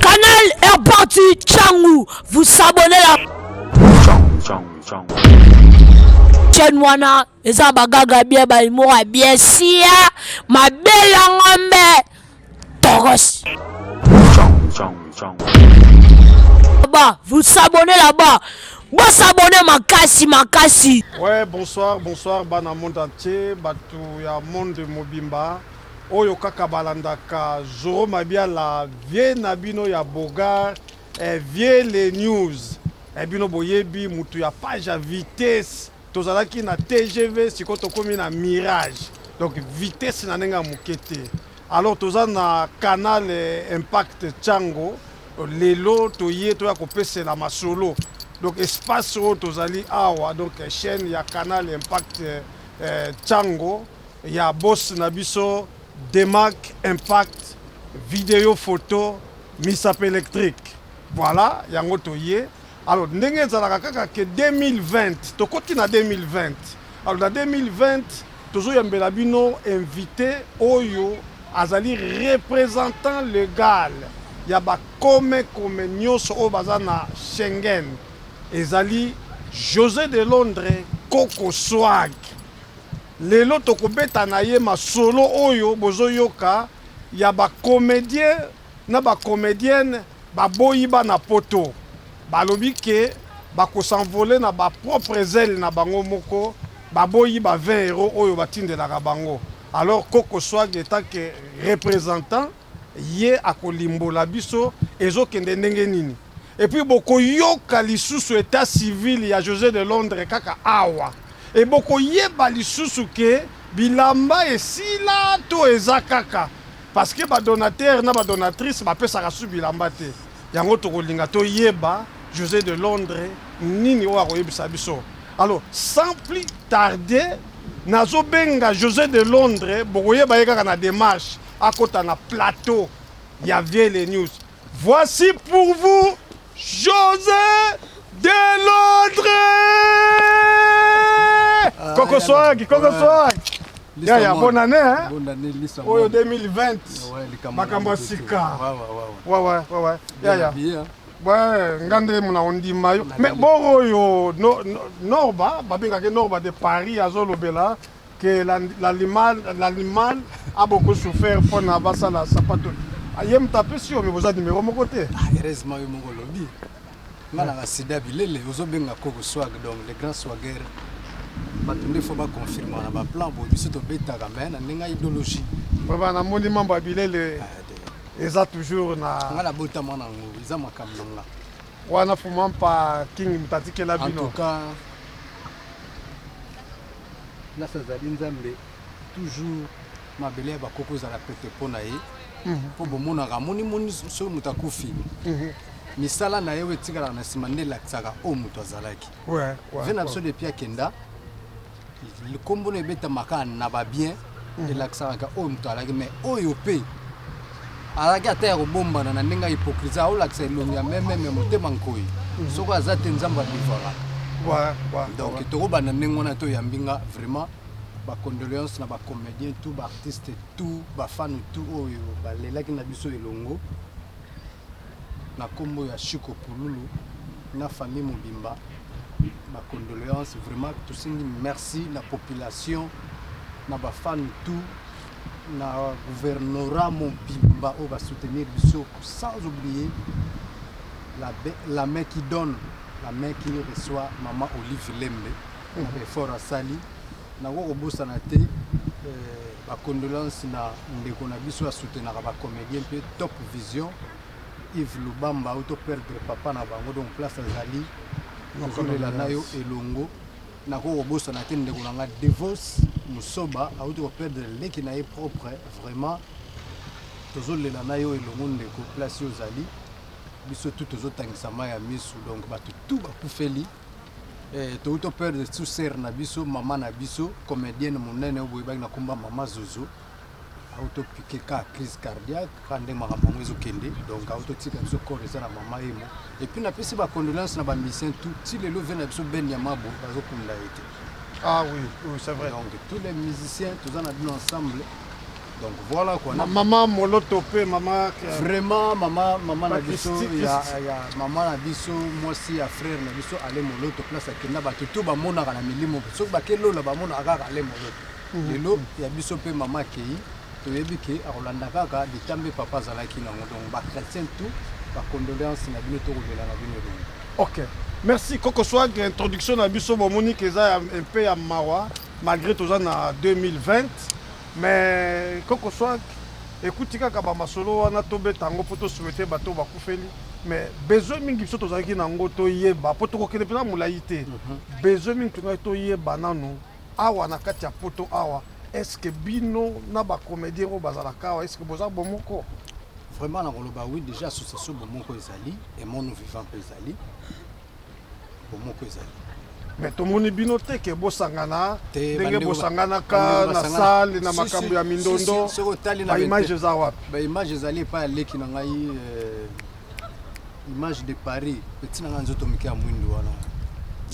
Canal est parti, Tchangou, vous s'abonnez là. Chen wana eza bagaga bien balimora bien sia mabe ya ngombe toros ba vous s'abonnez là-bas bosabone makasi makasi ouais bonsoir bonsoir bana monde entier bato ya monde mobimba Oyo kaka balandaka Zorro Mabiala vieux na bino ya Beaugard eh vieux les news eh bino boyebi mutu ya page ya vitesse tozalaki na tgv sikoyo tokomi na mirage donc vitesse na ndenge ya muke te alors toza na canal impact tshango lelo toye toya kopesela masolo donc espace oyo tozali awa donc chaîne ya canal impact tshango Ya boss na biso Demac impact video photo misapi electrique voila yango toye alors ndenge ezalaka kaka ke 2020 tokoti na 2020 alors na 2020 tozoyambela bino invité oyo azali représentant legal ya bakome kome nyonso oyo baza na Schengen ezali José de Londres Koko Swag Lelo toko beta na ye masolo oyo bozo yoka ya ba comediens na ba comediennes ba boyi bana poto. Ba lobi que ba ko s'envoler na ba propres ailes na bango moko, ba boyi ba 20 euros oyo ba tindelaka bango. Alors Koko Swag etant que representant, Ye akolimbola biso ezo kende ndenge nini et puis boko yoka lisusu etat civil ya Jose de Londres kaka awa et boko yeba lisusu que bilamba esila to eza kaka parce que ba donateur na ba donatrice ba pesaka lisusu bilamba te yango toko linga to yeba Jose de Londres nini oyo ako yebisa biso alors sans plus tarder nazo benga Jose de Londres boko yeba ye kaka na demarche. akota na plateau ya Viele News. Voici pour vous José de Londres. Ah, Coco Swag, Coco Swag. Ya ya bonne année hein. Bonne année Lisa. Oyo 2020. Makambo ya sika. Wa wa wa. Wa wa. Ya ya. Ouais, ngande mona ondima yo. Mais boro yo no, no, Norba, babengaka Norba de Paris azolobela que l'animal a beaucoup souffert pona basala sapato ye moto apesi yo me boza numero moko te ah, heureusement yo moko olobi nga na basida bilele ozobenga koko swag donc le grand swager bato nde fo baconfirme na baplan boye biso tobetaka me na ndenge ya idéologie vraimen namoni mambo ya bilele ah, eza toujours na nga nabotama na yango eza makambo na nga wana fumampa king moto atikela bino place azali nzambe toujours mabele ya bakoko ezala pete mpo na ye mpo mhm. bomonaka moni moni soki moto akufi mhm. misala na ye oyo etikalaka na nsima nde elakisaka oyo moto azalaki ve na biso depuis akenda nkombo na ebetamaka na babien elakisaka kaka oyo moto alaki mais oyo mpe alaki ata ya kobombana na ndenge ya hypocrisie aolakisa elongi ya meme ya motema nkoi mhm. soko aza te nzambe abivaka donc tokobanda ndenge wana toyambi nga vraiment bacondoléance na bacomédien tout baartiste tout bafane tout oyo balelaki na biso elongo na kombo ya Chico Pululu na famille mobimba ba condoleances vraiment tosengi merci na population na ba fan tout na gouvernorat mobimba oyo ba soutenir biso sans oublier la, la main qui donne la main qui reçoit maman Olive Lembe na effort asali Nakoki kobosana te ba condoleances na ndeko na biso a soutenaka ba comediens mpe Top Vision Yves Lubamba auto perdre papa na bango donc place azali tozolela na yo elongo nakoki kobosana te ndeko na nga Devos Musoba auti ko perdre leki na ye propre vraiment tozolela na yo elongo ndeko place yo ozali biso tout tozotangisa mai ya misu donc bato tout bakufeli Eh, touti to perdre sous sœur na biso, maman na biso, comedienne monene oyo boyebaki na komba maman Zozo. Auto piquer ka crise cardiaque, ka nde makambo yango ezo kende. Donc auto tika biso corps eza na maman emo. Et puis na pesi ba condoléances na ba musiciens tout, ti lelo vie na biso Ben Yamabo bazo kunda ete. Ah oui, oui c'est vrai. Donc tous les musiciens toza na bino ensemble. Donc voilà quoi. Ma maman Moloto pe maman vraiment maman maman na biso ya ya maman na biso mwasi ya frère na biso ale Moloto place akenda bato tout ba monaka na milimo soki ba kelola ba monaka kaka ale Moloto. Mhm. Lelo ya biso pe maman Kei toyebi ke akolanda kaka litambe papa azalaki nango donc ba chrétien tout ba condoléance na bino tokolela na bino elongo. OK. Merci koko swag introduction na biso bomoni ke eza un peu ya mawa malgré toza na 2020 Mais koko swag ekuti kaka ba masolo wana to beta yango po to souhaiter bato oyo bakufeli mais besoin mingi biso tozalaki na yango toyeba po tokokende mpenza molai te besoin mingi tongaki toyeba nanu awa na kati ya poto awa est ce que bino na ba comedien oyo bazalaka awa est ce que boza bomoko Vraiment nakoloba oui, dejà association bomoko ezali et mon vivant mpe ezali. bomoko ezali mais tomoni bino te ke bosangana ndenge bosanganaka na sale na makambo ya mindondo baimage eza wapi baimage ezali epai ya leki na ngai euh, image de paris peti na ngai nzoto moke ya mwindo wana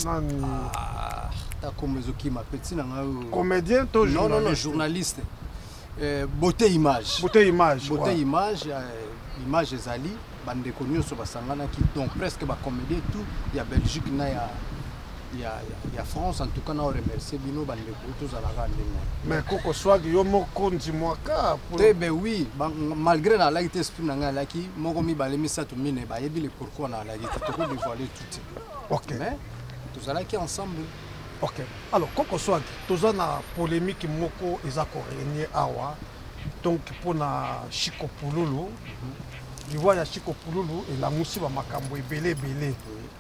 nani ah, ta kombo ezokima peti na ngai oyo comédien to journaliste Eh, beauté image. Beauté image. Beauté ouais. image. Eh, image ezali bandeko nyonso basanganaki donc presque bacomédie tout ya belgique na ya ya, ya, ya france en tout cas na remercie bino bandeko tozalaka ndenge wana mais koko swag yo moko ndimwaka te be oui ba, malgré nalaki te esprit na ngai alaki moko mibale misato mine bayebi le pourquoi nalaki te tokodevoile tout te okay. mais tozalaki ensemble Ok alors koko swag toza na polemique moko eza ko regne awa donc pona shiko pululu liwa ya shiko pululu elamusi ba makambu ebele ebele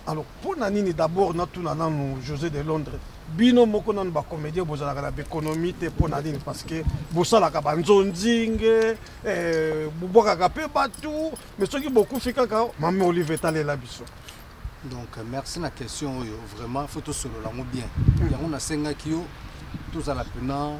alors pona nini d'abord na tuna nanu Jose de Londres bino moko nanu ba comedien bozalaka na b'economie te pona nini parce que bosalaka ba nzonzinge eh, bobwakaka pe batu mais soki bokufi kaka mame olive etalela biso Donc merci na question oyo vraiment faut to solo lango bien. Hmm. Yango na senga ki yo tozala pena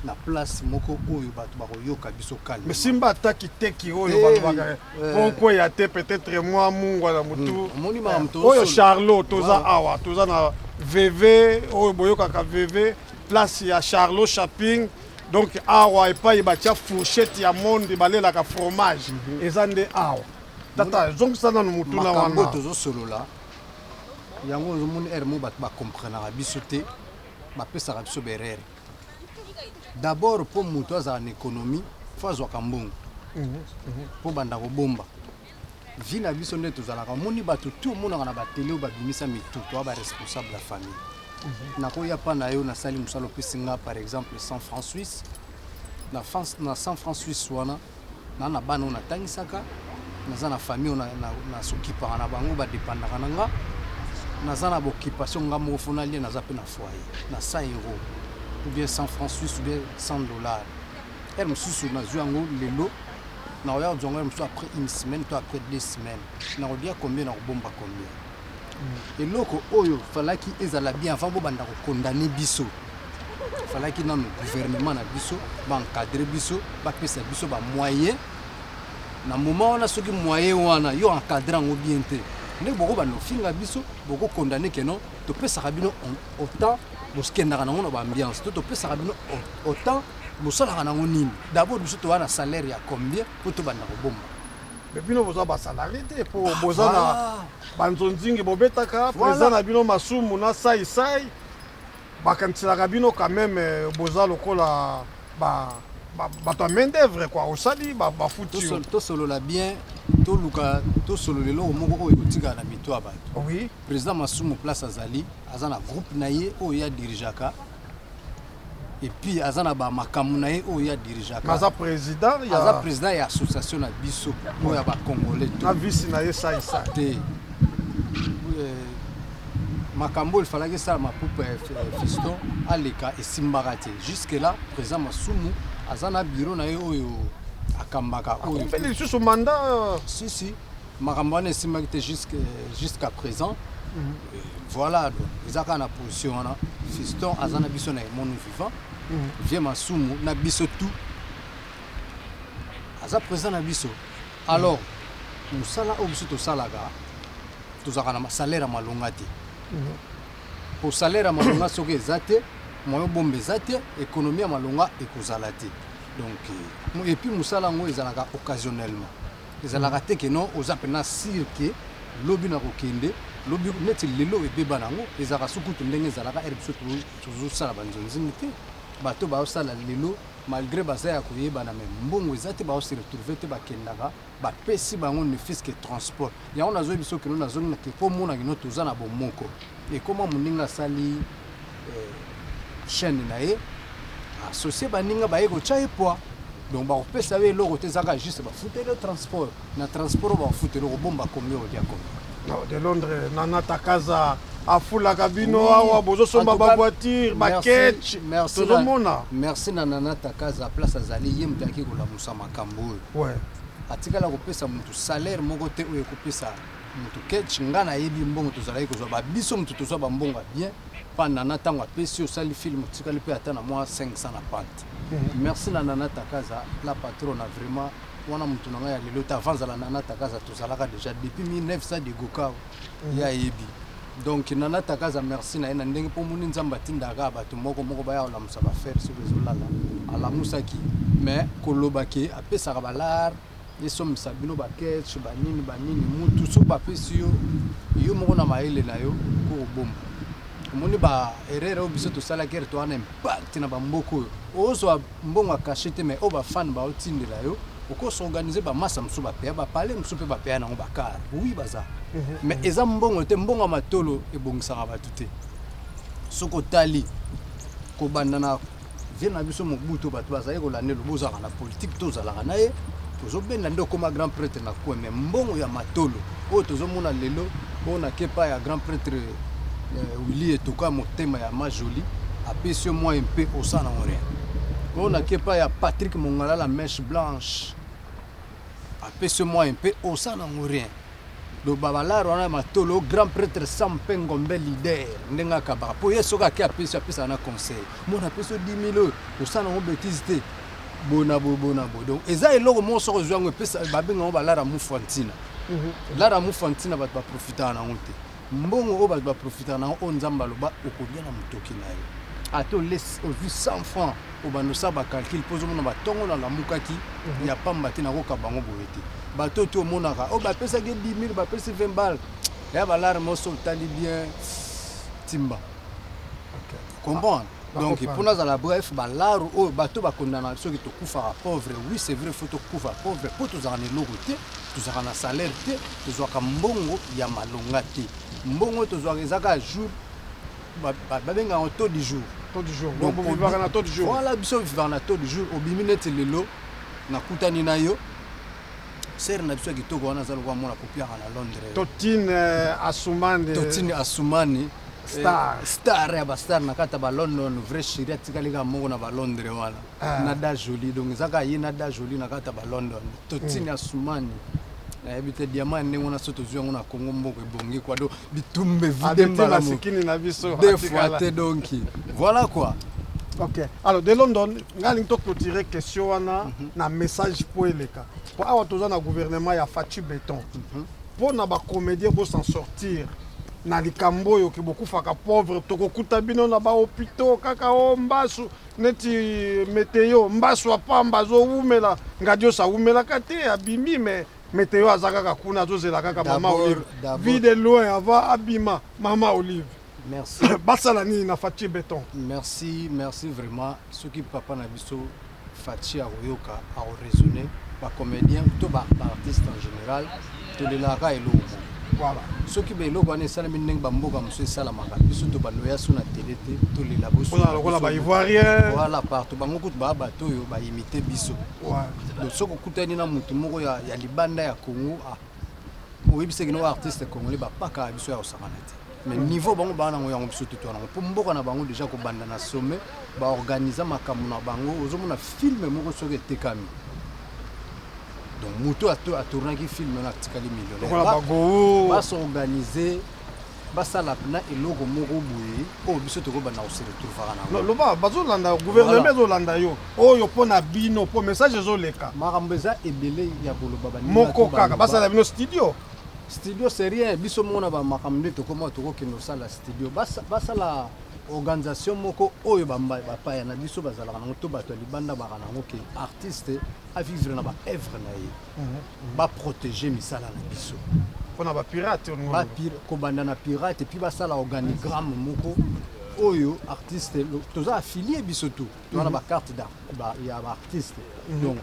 na place moko oyo bato bakoyoka biso kalme simba ata kiteki oyo eh, balobaka eh. moko ya te peut-être mwa mungwa na motu hmm, eh, oyo charlot toza awa toza na veve oyo boyokaka veve place ya charlot shopping donc awa epai batya fourchette ya monde balelaka fromage mhm. eza nde awa Tata, zongisa nanu motuna wana. Makambo oyo tozosolola yango ozomoni ere mo bato bakomprenaka biso te bapesaka biso berere dabord mpo moto azala na ekonomi fo azwaka mbongo mpo mhm, mhm. banda kobomba vi na biso nde tozalaka omoni bato tu omonaka na batele oyo babimisa mitu toa baresponsable ya famille mhm. nakoya mpa na yo nasali mosala opesi nga par exemple 100 franc suisse na, France, na 100 franc suisse wana Naza na bana oyo na tangisaka, naza na famille oyo na, na, na sokipaka na bango, ba dependaka na nga. Naza na b'occupation nga moko fo nalia, naza pe na foyer na 100 euros ou bien 100 francs suisse ou bien 100 dollars. Heure mosusu nazwi yango lelo, nakoya kozwa yango heure mosusu après une semaine to après deux semaines. Nakolia combien? Nakobomba combien? Eloko oyo falaki ezala bien avant bo banda ko condamner biso. Falaki nanu gouvernement na biso ba encadrer biso, ba pesa biso ba moyens. Na moment wana soki moyen wana yo encadrer yango bien te, nde boko banda kofinga biso, boko condamner que non topesaka bino autant bokendaka nango na ba ambiance to topesaka bino autant bosalaka nango nini. D'abord biso toza na salaire ya combien po tobanda kobomba? Mais bino boza ba salarié te po ah, boza na ba nzonzingi bobetaka président na bino masumu na sai sai bakaniselaka bino quand même euh, boza lokola ba bato ya main d'œuvre quoi osali bafuti yo tosolola bien toluka tosolola eloko moko oyo ekotikala na mito ya bato oui président masumu place azali aza na groupe na ye oyo ye adirigeaka et puis aza na ba makambo na ye oyo ya dirigeaka aza président ya aza président ya association na biso oyo ya ba congolais na vice na ye sai sai te euh, makambo oyo efalaki esalama pupa ya fiston aleka esimbaka te jusque là président masumu aza na biro na ye oyo akambaka oyo lisusu manda euh, si si Makambo wana esimbaki te jusqu'à présent. Mhm. Voilà, donc eza kaka na position wana. Fiston aza na biso na emonu vivant. Mhm. Vieux Masumu na biso tout. Aza présent na biso. Alors, mosala oyo biso tosalaka tozalaka na salaire ya malonga te. Pour mhm. salaire ya malonga soki eza te, moyo bombe eza te, économie ya malonga ekozala te. Donc, euh, et puis mosala yango ezalaka occasionnellement. Ezalaka te que non oza pena sur que lobi na kokende lobi neti lelo ebeba na ngo ezalaka su kutu ndenge ezalaka ere biso tozo sala ba nzonzing te bato bao sala lelo malgre baza ya koyebana me mbongo eza te bao se retrouver te bakendaka ba pesi bango ne fils que transport yango nazo yebiso kino nazongi na ke komona kino toza na bomoko ekoma moninga asali chaine na ye associe baninga baye kotya ye pwa donc bakopesa yo eloko te ezaka juste bafuteli yo transport na transport bakofuteli okobomba komi olya komi de londres nana takaza afulaka bino oui. awa bozosomba bavoiture baketch tozomona merci na nana takaza place azali ye moto ayaki kolamusa makambo oyo ouais. atikala kopesa moto salaire moko te oyo ekopesa mutu ketch nga na yebi mbongo tozalaki kozwa ba biso mutu tozwa ba mbongo ya bien pa nana tango apesi yo osali film otikali pe ata na mwa 500 na pante mhm. merci na nana takaza la patrona vraiment wana mutu na ngai ya lelo te avant zala nana takaza tozalaka deja depuis 1900 de gokao mhm. ya yebi donc nana takaza merci na ye na ndenge mpo omoni nzambe atindaka bato moko moko baya kolamusa bafere soki ezolala alamusaki mais kolobaki apesaka balare esombisa bino ba ketch ba nini ba nini mutu soki bapesi yo yo moko na mayele na yo kokobomba omoni ba erreur oyo biso tosalaki ere towana impact na bamboka oyo ozwa mbongo akache te mai oyo bafane baotindela yo okosi organise bamasa mosusu bapeya bapale mosusu mpe bapeya nango bakar wi baza mhm. mai eza mbongo te mbongo ya matolo ebongisaka bato te soki otali kobanda na Vieux na biso Mobutu bato bazali kolanda elobi ozalaka na politique te ozalaka na ye tozobenda nde okoma grand pretre na coin mais mbongo ya matolo oyo tozomona lelo oyo na kepa ya grand pretre euh, Willy Etoka motema ya ma jolie apesi yo mwa mpe osala nango rien oyo na kepa ya Patrick Mongala la mèche blanche apesi yo mwa mpe osala nango rien Loba ba lar wana ya matolo grand pretre sam pe ngombe leader ndenge akabaka po ye soki ake apesi apesaka na conseil mona apesi yo 10000 oyo osala nango betise te boye na boye boye na boye donc eza eloko moko soki ozwi yango epesa babenga yango ba lar ya mufu ya ntina lar ya mufu ya ntina bato ba profitaka na yango te Mbongo oyo batu ba profitaka na yango oyo nzambe aloba okolia na mutoki na yo ata ozwi 100 francs obanda osala ba calcul mpo ozomona batongo nalamukaki mhm. ya pamba te nakokaba yango boye te bato oyo te omonaka oyo oh, bapesaki ye 10 000 bapesi 20 bale ya balarme oso otali bien timba comprendre donc pour nazala bref balaru oyo bato bakondana soki tokufaka pauvre oui c'est vrai faut tokufa pauvre mpo tozalaka na eloko te tozalaka na salaire te tozwaka mbongo ya malonga te mbongo tozwaka ezaka jour babengaka ba, taux du jour voilà biso vivaka na taux du jour obimi neti lelo nakutani na yo Sœur na biso ya kitoko wana aza lokola mwana kopiaka na Londres. Totine euh, Asumani. Totine Asumani. Star. Eh, star ya ba star na kata ba London vrai chérie atikali ka moko na ba Londres wana. Ah. Na da jolie donc ezaka ye na da jolie na kata ba London. Totine mm. Asumani. nayebi te diamant ya ndenge wana so tozwi yango na congo mboka ebongi kua do bitumbe vide mbala masikini na biso atikala te donc voilà quoi ok alors de london ngai alingi toclotire question wana mm -hmm. na message mpo eleka mpo awa toza na gouvernement ya faci beton mpo mm -hmm. na bacomédien bosan sortir na likambo oyo ke bokufaka pauvre tokokuta bino na bahopitau kaka o oh, mbasu neti meteo mbasu apamba azowumela ngadioso awumelaka te abimi me Meteo aza kaka kuna azozela kaka mama olive vie de loin avant abima mama olive merci basala nini na faci beton merci merci vraiment soki papa na biso faci akoyoka akoraisonne bacomédien to baartiste en général tolelaka eloko voilà. soki baeloko wana esalami ndenge bamboka mosusu esalamaka biso to baloya so na tele te tolela bosokola baivoirien voilà partout bango kutu baa bato oyo baimite biso soki okutani na moto moko ya, ya libanda ya congo ah, oyebisaki no artiste congolais bapaka biso ya kosakana te mais niveau bango baa nango yango biso tutu yango mpo mboka na bango deja kobanda na sommet baorganize makambo na bango ozomona filme moko soki etekami donc moto atournaki filme na atikali millionnaire basorganize basala pna eloko moko boye oyo biso tokobanda koseretrouvaka nango loba bazolanda guverneme ezolanda yo oyo mpo na bino mpo message ezoleka makambo eza ebele ya koloba moko kaka basala bino studio studio c'est rien biso moko na bamakambo nde tokoma tokokende kosala studio basala organisation moko oyo bapaya na biso bazalaka nango to bato ya libanda baka nango ke artiste avivre na baevre na ye ba proteger misala na biso pona ba pirate ba pir, kobanda na pirate puis basala organigramme moko oyo artiste toza affilié biso tout toza na ba carte ya ba artiste mhm. donc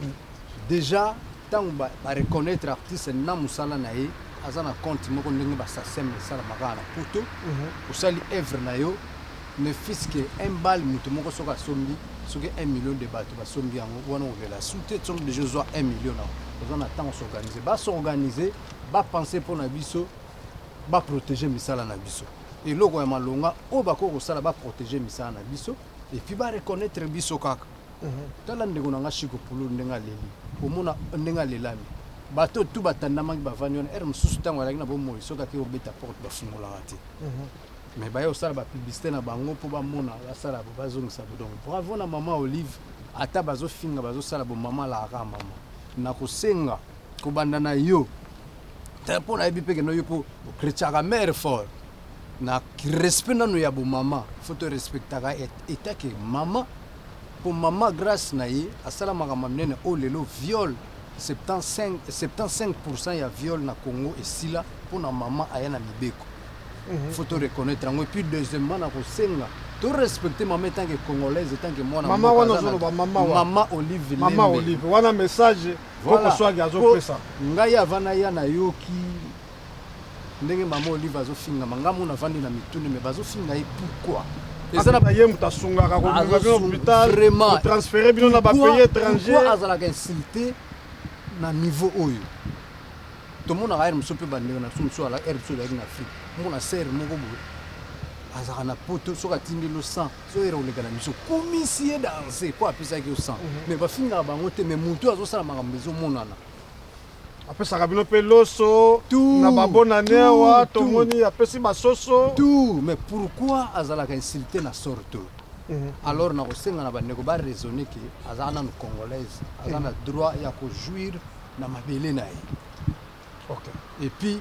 déjà ntango ba, ba reconnaître artiste na mosala na ye aza na compte moko ndenge basasem esalamaka na poto mhm. osali œuvre na yo Mais fisc un bal mutu moko soki asombi soki un million de batu ba sombi yango wana okolela su te soki deja ozua un million na oza na temps s'organiser ba s'organiser ba penser pona biso ba proteger misala na biso eloko ya malonga oyo bakoki kosala ba proteger misala na biso et puis ba reconnaître biso kaka mhm. tala ndeko na nga Chico Pulu ndenge aleli omona ndenge alelami bato tout batandamaki bavandi wana ere mosusu ntango alaki na bomoi soki ake kobeta porte bafungolaka te mhm. Mais baye kosala ba publicite na bango po bamona basala bo bazongisa bo donc bravo na maman olive ata bazofinga bazosala bo maman lara maman nakosenga kobanda na yo te po nayebi pe keno yo po okretchaka mare fort na respect nano ya bomama fo to respectaka etake mama po mama grace na ye asala makambo minene oyo oh, lelo viole 75 ya viole na congo esila mpo na mama aya na mibeko Mhm. faut to reconnaître yango epuis deuxièmement na kosenga to respecte mama etanke congolaise etanke mwana mama wana ozoloba mama wa mama olive mama olive wana message koko swagi azopesa ngai avana ya nayoki ndenge mama olive azofingama ngai mona avandi na mituni me bazofinga ye pourquoi eza na baye moto asungaka komema bino hôpital kotransfere bino na bapays étranger azalaka insulte na niveau oyo Tomonaka heure mosusu mpe bandeko na biso mosusu ala heure biso ezalaki na Afrique, omona sœur moko boye azalaka na poto, soki atindeli yo 100 so heure koleka na biso kumisi ye danse mpo apesaki yo 100 mhm. mais bafingaka bango te, mais moto azosala makambo ezomonana apesaka bino mpe loso na babonane awa tomoni apesi basoso tout mais pourquoi azalaka insulte na sorte mhm. alors nakosenga na bandeko baraisonne ke aza nanu congolaise aza na mhm. droit ya kojouir na mabele na ye okay. et puis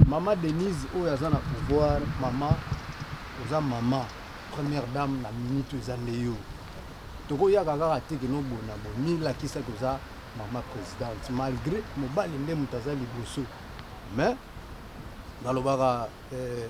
mama denise oyo aza na pouvoir mama oza mama première dame na minute oyo eza nde yo tokoyaka kaka te kino bona bo milakisa toza mama présidente malgré mobali nde moto aza liboso mais nalobaka eh,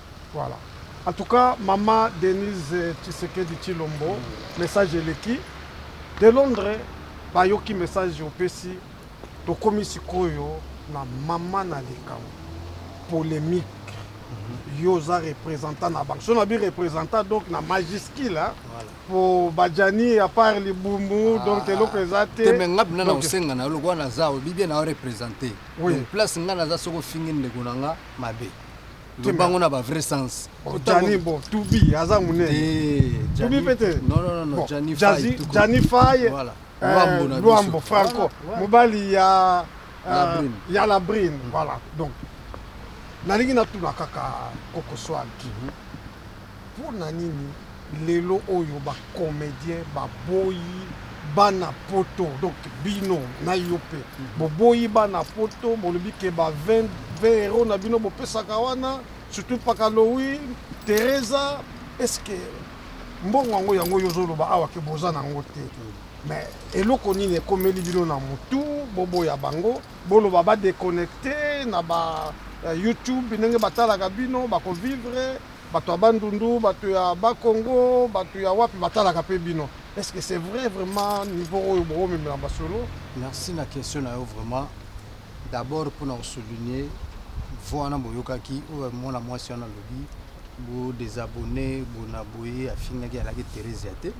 Voilà en tout cas maman Denise Tshisekedi Tshilombo message eleki de Londres bayoki message opesi tokomi sikoyo na maman na likambo polemique yo oza representant na bango so na bi representant donc na majuscule hein Voilà. po bajani à part libumu donc eloko eza te te me nga bina na Donc, kosenga na yo lokola naza oyebi bien na yo represente Oui. donc place nga naza soki ofingi ndeko na nga mabe Loba yango na ba vrai sens. Oh, Gianni bon, Tubi aza munene. Eh, Tubi pete. Non non non, Gianni Faye. Gianni Faye. Voilà. Eh, Luambo na Luambo Franco. Mobali ya euh, ya la brine. Mhm. Voilà. Donc nalingi natuna kaka kokoswaki mhm. Pona nini lelo oyo ba comediens ba boyi bana poto donc bino na yo pe bo boyi bana poto bolobi ke ba 20 heros na bino bo pesaka wana surtout pakalowi teresa est ce que mbongo yango yango yo ozo loba awa ke boza na ngo te mais eloko nini ekomeli bino na mutu bo boya bango boloba ba deconnecter na ba youtube ndenge ba talaka bino bako vivre Bato ya bandundu, bato ya bas congo, bato ya wapi batalaka pe bino est ce que c'est vrai vraiment niveau oyo boko memela masolo? Merci na question na yo vraiment d'abord pona ko souligner voix wana boyokaki oyo mwana mwasi wana alobi bo desabonner bona boye afingaki alaki Theresia te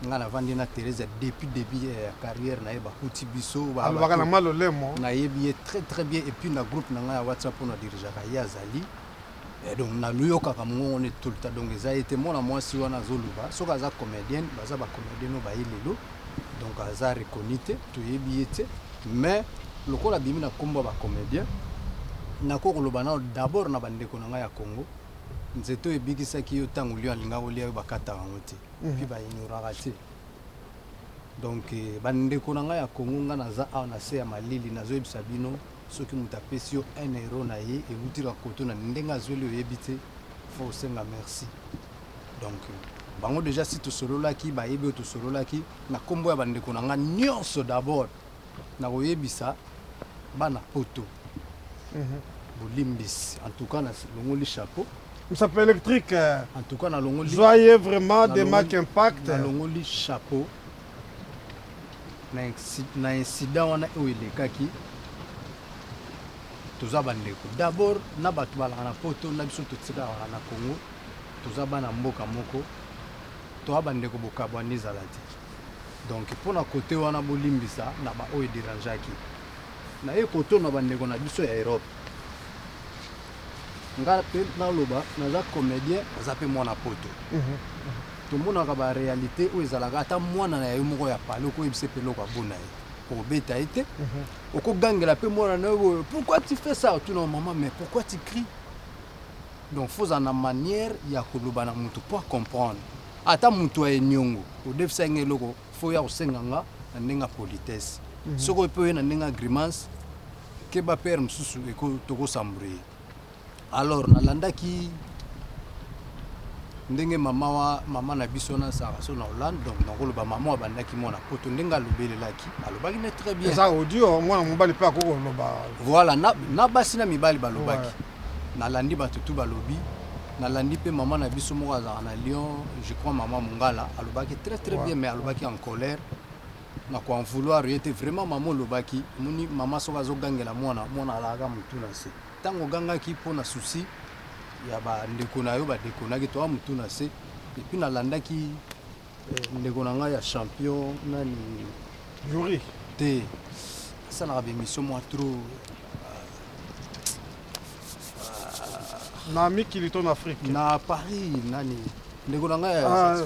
nga navandi na Theresia depuis début ya carrière na ye bakuti biso alobaka na malolemo nayebi ye très très bien et puis na groupe na ngai ya WhatsApp oyo na dirigeaka ye azali Eh donc na luyokaka mungongo ne tout le temps donc eza ye te mwana mwasi wana azo loba soki aza comedienne baza ba comedienne oyo baye lelo donc aza reconnu te toyebi ye te mais lokola abimi na kombo ya ba comedien nako koloba nano d'abord na ba ndeko na ngai ya Congo nzete oyo ebikisaki yo tango lion alinga kolia yo bakataka yango te puis ba ignoraka te donc ba ndeko na ngai ya Congo ngai naza awa na se ya malili nazo yebisa bino Soki moto apesi yo un euro na ye ewuti kaka koto na ndenge azweli oyebi te faut osenga merci donc bango dejà si tosololaki bayebi oyo tosololaki na kombo ya bandeko na nga nionso d'abord na koyebisa bana poto bolimbisi en tout cas na longoli chapeau Msape Electric, en tout cas na longoli zwa ye vraiment de marque impact. na longoli chapeau na incident wana oyo elekaki toza bandeko d'abord na bato balaka na poto na biso totikalaka na congo toza bana mboka moko toa bandeko bokabwani ezala te donc mpo na kote wana bolimbisa na baoyo ederangeaki naye kotona bandeko na biso ya europe Nga pe naloba naza comedien naza pe mwana poto tomonaka ba realite oyo ezalaka ata mwana na yo moko ya palais oko yebisa pe eloko abo na ye okobeta ye te oko gangela pe mwana na yo boye pourquoi tu fais ça otuna yo maman mais pourquoi tu crie donc faut ozala na manière ya koloba na mutu po a comprendre ata mutu ya eniongo odefisa ye nga eloko faut oya kosenga nga na ndenge ya politesse soki oye pe oye na ndenge ya grimace keba père mususu eko toko s'embrouiller alors nalandaki ndenge mama wa mama na biso na sara so na hollande donc nakoloba mama abandaki mwana poto ndenge alobelelaki alobaki ne très bien eza audio mwana mobali mpe akoki koloba voilà na, na basi na mibali balobaki ouais. nalandi bato tu balobi nalandi mpe mama na biso moko azalaka na lyon je crois mama mongala alobaki très très ouais. bien mais alobaki en colère na ko en vouloir ye te vraiment maman olobaki omoni maman soki azo gangela mwana mwana alalaka mutu na se tango ogangaki po na souci ya ba ndeko na yo ba deconaki toa mutu na se et puis na landaki eh, ndeko na ngai ya champion nani Yuri te asalaka ba emission mwa trop na mikili to na Afrique na Paris nani ndeko na ngai ya Ah,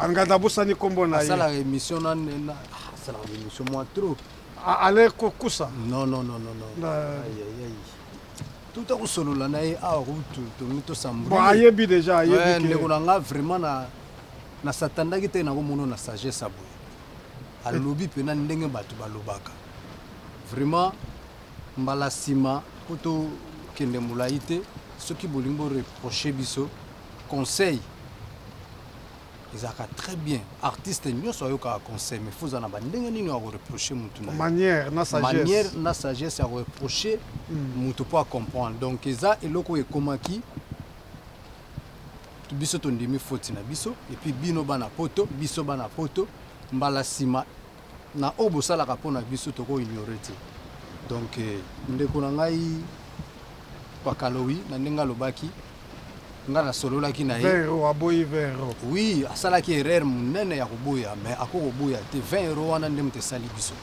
Angada abosani kombo na ye. Asala emission na nena. Asala emission moi trop. Ale kokusa. Non non non non. Aïe aïe aïe. Tout à kusolola na ye awa kutu tongi to sambuli. Bon ayebi déjà ayebi eh, ke. Ndeko na nga vraiment na na satandaki te na komono na sagesse ya boye. Alobi pena ndenge bato balobaka. Vraiment mbala sima kutu kende mulayi te soki bolingi bo reprocher biso Conseil ezalaka très bien artiste nionso ayokaka conseil mais foza na ba ndenge nini ya ko reprocher mutu na manière na sagesse manière na sagesse ya ko reprocher mm. mutu po a comprendre donc eza eloko ekomaki biso tondimi foti na biso epuis bino bana poto biso bana poto mbala nsima Na oyo bosalaka mpo na biso toko ignorer te donc ndeko na ngai Pakalowi na ndenge alobaki nga na sololaki na ye 20 euros aboyi 20 euros oui asalaki erreur munene ya koboya mais ako koboya te 20 euros wana nde moto esali biso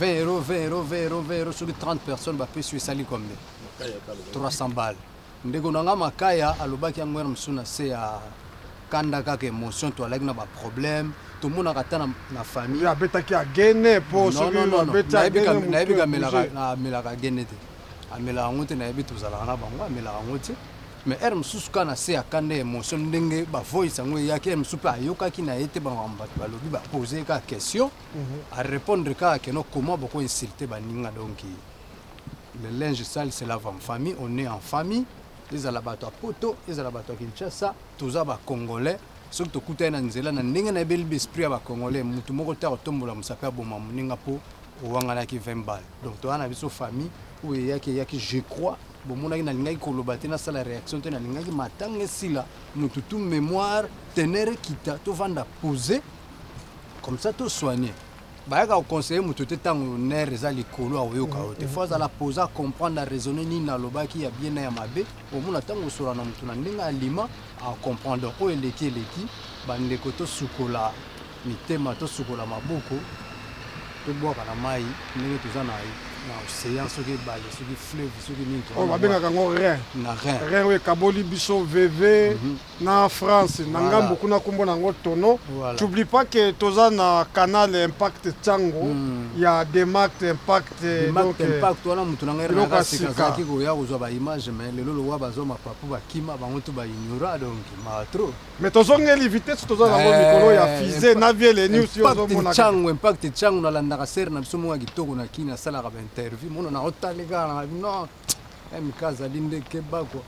20 euros 20 euros 20 euros 20 euros soki 30 personnes bapesi yo esali combien 300 balles Ndeko na nga Makaya alobaki yango heure mosusu na se ya kanda kaka emotion toalaki na ba problème tomonaka ata na, na famille Ye abetaki agene po non soki non non non abeti nayebi agene ka mutu nayebi ka melaka ebouger. na melaka agene te amelaka yango te nayebi tozalaka na bango amelaka yango te mais heure mosusu kaka na se ya kanda emotion ndenge ba voice yango eyaki heure mosusu pe ayokaki na ye te ba makambo bato balobi ba poser ye kaka question a repondre kaka que non comment boko insulter baninga donc Le linge sale se lave en famille, on est en famille. Ezala bato ya poto, ezala bato ya Kinshasa, toza ba congolais. Soki tokutani na nzela, na ndenge nayebeli b'esprit ya ba congolais, mutu moko te akotombola mosapi aboma moninga po owanganaki 20 balles. Donc toza na biso famille, oyo eyaki eyaki. Je crois bomonaki nalingaki koloba te, nasala reaction te, nalingaki matanga esila, mutu tout, memoire, teneur ekita, tovanda pose, comme ça to soigner. Bayaka ko conseiller moto te tango nerf eza likolo akoyoka yo te. Faut azala pose a comprendre a raisonner nini nalobaki ya bien na ya mabe. Omona tango osolola na moto na ndenge alima ako comprendre. Donc oyo eleki eleki ba ndeko tosukola mitema tosukola maboko tobwaka na mayi ndenge toza na na ocean soki ebale soki fleuve soki nini toza na bwaka. Oyo babengaka yango rein. Na rein. Rein oyo ekaboli biso veve. na France na ngambo kuna kombo na yango Tono t'oublie pas que toza na canal impact Tsango hmm. ya Demact impact donc impact wana mutu na ngai na sika ki ko ya ko zwa ba image mais lelo lowa bazo mapapu bakima bango to ba ignora donc ma trop mais tozongeli vitesse toza na ngo mikolo ya eh, fusée na vie les news yo zo mona Tsango impact Tsango na landaka serre na biso mwa kitoko na kina salaka ba interview mono na otalika na non MK azali nde keba quoi.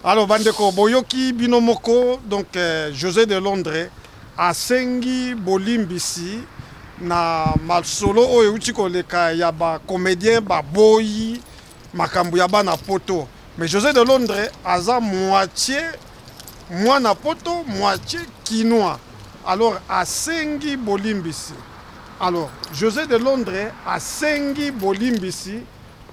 Alors bandeko boyoki bino moko donc euh, José de Londres asengi bolimbisi na masolo oyo euti koleka ya ba comédien baboyi makambo ya bana poto mais José de Londres aza moitié mwana poto moitié kinois alors asengi bolimbisi Alors Jose de Londre asengi bolimbisi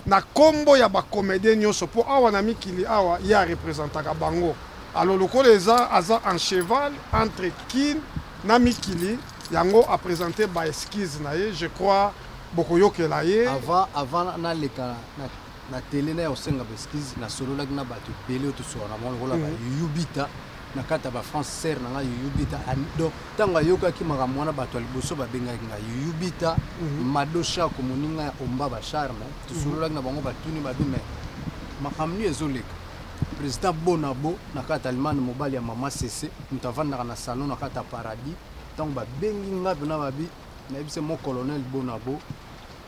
na kombo ya ba comediens nionso po awa na mikili awa ye a representaka bango alors lokola eza aza en cheval entre kin na mikili yango a presenter ba excuses na ye je crois bokoyokela ye. Avant avant naleka na na tele naya kosenga ba excuses nasololaki na batu ebele oyo tosolola na bango lokola ba Youyou Bita. na kati ya ba France sœur na nga Youyou Bita donc tango ayokaki makambo wana bato ya liboso babengaki nga Youyou Bita mhm. Mado Shako moninga ya Omba ba Charme tosololaki na bango batuni babi mais makambo nini ezoleka président Bonabo na kati Allemagne mobali ya mama Sese moto avandaka na salon na kati ya paradis ntango babengi nga mpena babi nayebisa mo colonel Bonabo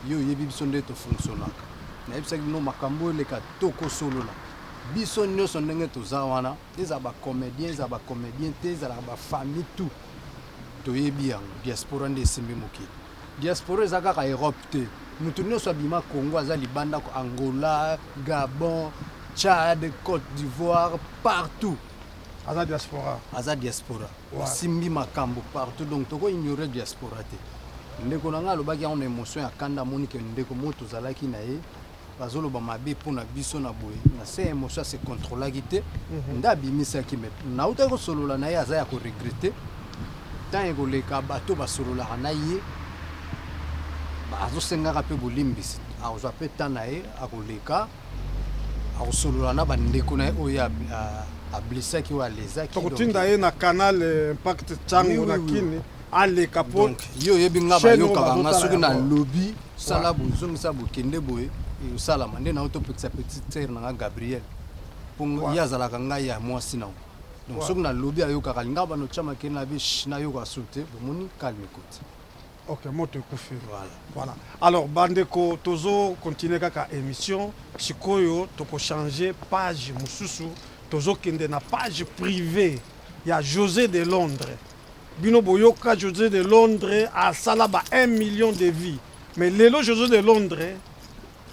yo oyebi biso nde tofonctionnaka nayebisaki bino makambo eleka tokosolola biso nyonso ndenge toza wana Ezala ba comediens ezala ba comediens te ezalaka ba famille tout toyebi yango diaspora nde esimbi mokili diaspora eza kaka Europe te mutu nionso abima Congo aza libanda ko Angola Gabon Tchad Cote d'Ivoire partout aza diaspora aza diaspora asimbi makambo partout donc toko ignorer diaspora te ndeko na ngai alobaki yango na emotion ya kanda amoni ke ndeko moko tozalaki na ye bazo loba mabe pona biso na boye na se emotion a se controlaki te mhm. nda abimisaki me nautaki kosolola na ye aza ya koregrete ntango ekoleka bato basololaka na ye azosengaka mpe bolimbisi akozwa mpe ntan na ye akoleka akosolola na bandeko na ye oyo ablesaki oyo alezaki tokotinda ye na canal eh, impact cango na kini aleka po yo oyebi nga bayokaka nga soki na lobi sala bozongisa bokende boye eyosalama nde nao topekisa petite sere na nga gabriel po ye azalaka ngai ya mwasi nao donc soki na lobi ayokaka alinga bano tya makele na bish nayoka su te bomoni calme koti ok moto ekufi voilà. voilà alors bandeko tozo continue kaka émission sikoyo tokochange page mosusu tozokende na page privée ya josé de londres Bino boyoka Jose de Londres asala ba un million de vie mais lelo Jose de Londres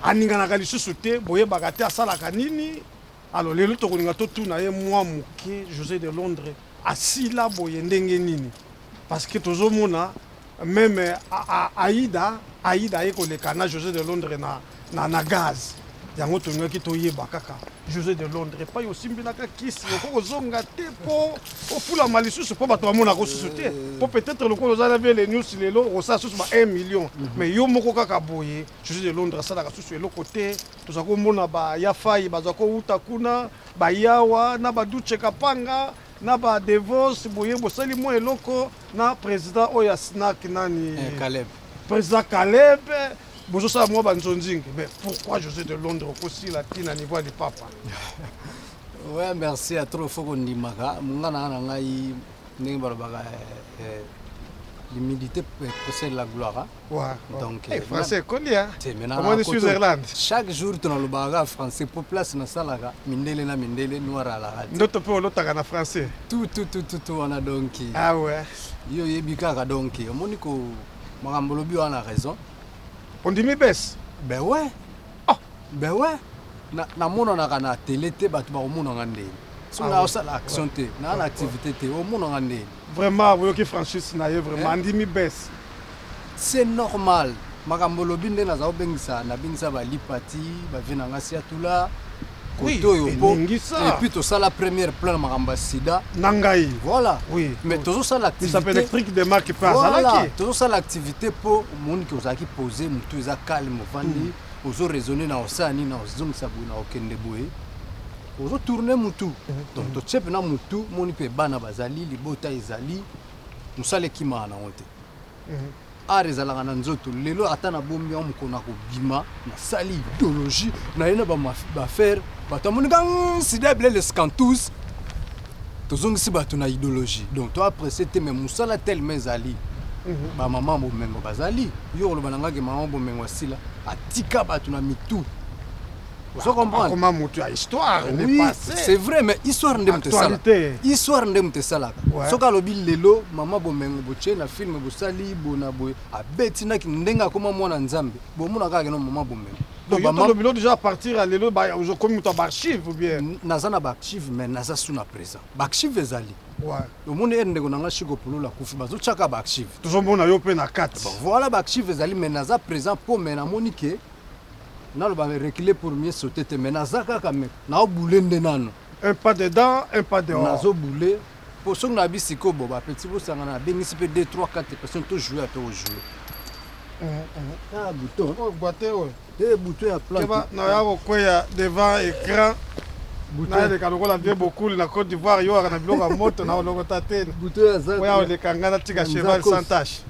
aninganaka lisusu te boyebaka te asalaka nini alors lelo tokolinga totuna ye mwa moke Jose de Londres asila boye ndenge nini parce que tozomona meme Aida Aida aye koleka na Jose de Londres na na na gaz yango tolingaki toyeba kaka josé de londres epai osimbinaka kisi okoki kozonga te mpo ofulama lisusu mpo bato bamonaka osusu te mpo peut-être lokola oza na vele news lelo okosala susu ba 1 million mhm. mais yo moko kaka boye josé de londres asalaka susu eloko te tozali komona bayafai bazali kouta kuna bayawa na baduce kapanga na ba devos boye bosali mwa eloko na président oyo ya snack nani eh, président caleb Bozo sala mwa ba nzonzingi mais pourquoi José de Londres okosila ti na niveau ya lipapa? Ouais, merci ya trop faut kondimaka mongana na ngai ndenge balobaka eh, eh, l'humilité possède la gloire hein. Ouais. Donc, hey, eh, français ekondi hein. Te maintenant omoni Switzerland. Chaque jour tunalobaka français po place nasalaka mindele na mindele noir à la radio. Ndoto pe olotaka na français. Tout tout tout tout wana donc. Ah ouais. Yo yebi kaka donc omoni ko Makambo olobi wana raison. Ondimi bes? Ben ouais. Oh. Ben ouais. Na namonanaka na tele te bato bakomona nga ndeni. Soki ah, osala ouais. action te, na ouais. na activité te, omona nga ndeni. Vraiment oyoki franchise na ye vraiment eh? andimi bes. C'est normal. Makambo olobi nde naza obengisa nabengisa ba lipati, ba vie na nga siatula. oui elingi ça et puis tosala première plan na makambo ya sida na ngai voilà oui mais tozosala activité électrique de marque pas azalaki tozosala activité mpo omoni ke ozalaki pose motu eza calme ovandi hmm. ozo raisonne na osala nini na ozongisa boye na okende boye ozo tourne motu hmm. donc totie mpena motu moni mpe bana bazali libota ezali mosala ekimaka nango te hmm. Art ezalaka na nzoto lelo ata na bombi yango mokolo na kobima na sali idologie na ye na bafere bato amonika sida ebele lescantous tozongisi bato na idologie donc to aprecie te mai mosala telema ezali mhm. bamama bomengo bazali yo koloba na ngaki mama bomengo asila atika bato na mitu ozo comprendre akoma mutu ya histoire oui, n'est pas c'est vrai mais histoire nde mutu esala histoire nde mutu esalaka ouais. soki alobi lelo mama bomengo botie na film bosali bona boye abeti naki ndenge akoma mwana nzambe bomona kaka keno mama bomengo donc yo tolobi lo déjà partir ya lelo okomi moto ya baarchive ou bien naza na baarchive mais naza su na présent baarchive ezali omoni ye ndeko na ngai shiko pulula kufi bazotyaka baarchive tozomona yo mpe na kati voilà baarchive ezali mais naza présent mpo mais namoni ke Naloba reculer pour mieux sauter te mais naza kaka mais nao boule nde nanu. Un pas dedans, un pas dehors. Nazo boule po soki na bi siko bo ba petit bo sangana na bengisi pe 2 3 4 personnes to jouer to jouer. Mm -hmm. Ah bouton. Oh boite oyo. Eh bouton ya plante. Keba na ya ko kweya devant écran. naleka lokola vie bokuli na côte d'ivoire yo aka na biloko ya moto na olokota te oya oleka ngai natika cheval sans tache